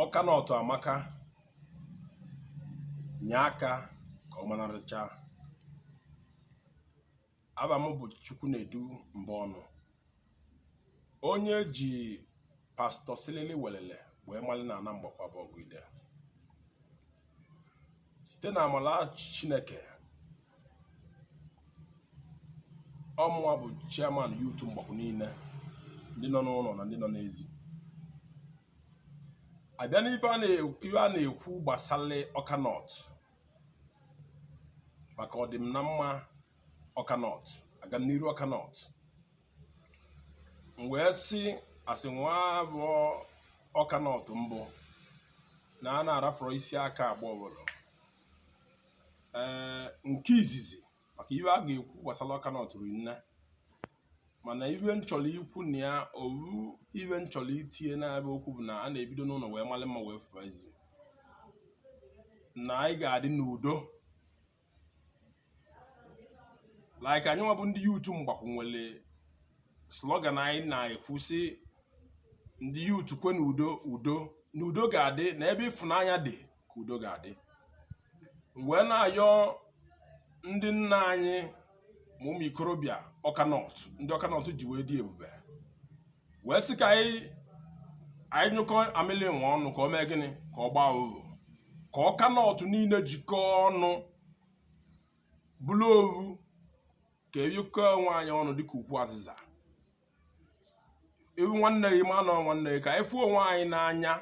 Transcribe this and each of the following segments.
awka north amaka nye aka ka ọ manarịcha ava m bụ chukwunedu mbọnụ onye ji pastor silili welele wee mali na ana mgbakwu abọgụ ide site na amala chineke ọmụwa bụ chairman youth mgbakwu niile ndị nọ n'ụlọ na ndị nọ n'ezi a bịa n'ife a na-ekwu gbasara awka north maka ọdịm na mma awka north agamniru awka north m wee sị asị nwa bụ awka north mbụ na a na-arafọrọ isi aka agba ọbụla ee nke izizi maka ive a ga-ekwu gbasara awka north ri nne mana ive m chọrọ ikwu na ya ovu ive m chọrọ itinye n'ebe okwu bụ na a na-ebido n'ụlọ wee malị mma wee fụba ezi na anyị ga-adị n'udo like anyị nwa bụ ndị youth mgbakwu nwere slogan anyị na-ekwu sị ndị youth kwenu udo udo na udo ga-adị na ebe ịfụnanya dị ka udo ga-adị wee na-ayọ ndị nna anyị ma ụmụ ikorobịa awka north ndị awka north ji wee dị ebube wee sị ka anyị nyụkọ amịlị nwe ọnụ ka o mee gịnị ka ọ gbaa ovu ka awka north niile jikọọ ọnụ bụrụ ovu ka e yikọ onwe anyị ọnụ dịka ukwu azịza ị vụ nwanne gị ma na ọ nwanne gị ka anyị fụọ onwe anyị n'anya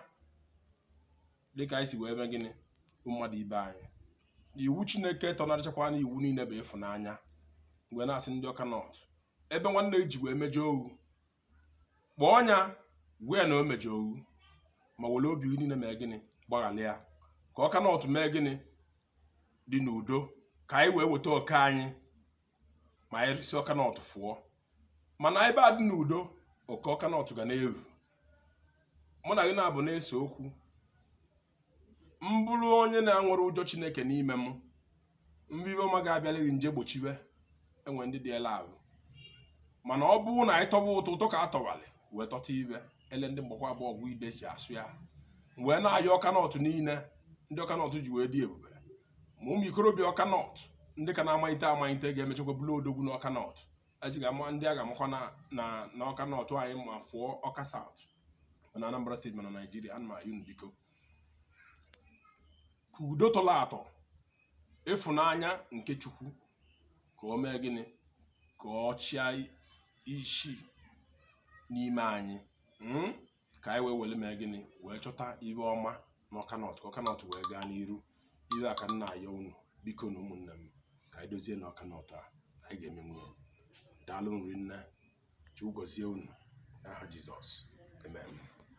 dịka anyị si wee mee gịnị vụ mmadụ ibe anyị iwu chineke tọnarịchakwa na iwu niile bụ ịfụnanya m wee na-asị ndị awka north ebe nwanne ji wee mejọọ wụ kpọọ nya gwa ya na o mejọọ wụ ma were obi niile mee gịnị gbaghara ya ka awka north mee gịnị dị n'udo ka anyị wee weta oke anyị ma anyị si awka north fụọ mana ebe a dị n'udo oke awka north ga na-eru mụ na gị na-abụ na-ese okwu m bụrụ onye na-enwerọ ụjọ chineke n'ime m m vụ ive ọma ga-abịara gị m je gbochiwe e nwe ndị dị ele ahụ mana ọ bụrụ na anyị tọba ụtọ ụtọ ka a tọwalị wee tọta ibe ele ndị mgbakwu abọgụ ide si asụ ya wee na-ayọ awka north niile ndị awka north ji wee dị ebube ma ụmụ ikorobịa awka north ndị ka na-amalite amalite ga-emechakwa bụrụ odogwu na awka north e ji ga-ama ndị a ga-amakwa na na na awka north anyị ma fụọ awka south ma na anambra state ma na naijiria ana m ayọ unu biko ka udo tọrọ atọ ịfụnanya nke chukwu ka o mee gịnị ka ọ chịa isi n'ime anyị mm? ka anyị wee were mee gịnị wee chọta ihe ọma na awka north ka awka north wee gaa n'iru ihe a ka m na-ayọ unu bikonu ụmụnne m ka anyị dozie na awka north a anyị ga-emenwu ya daalụnụ rinne chukwu gọzie unu n'aha jizọs amen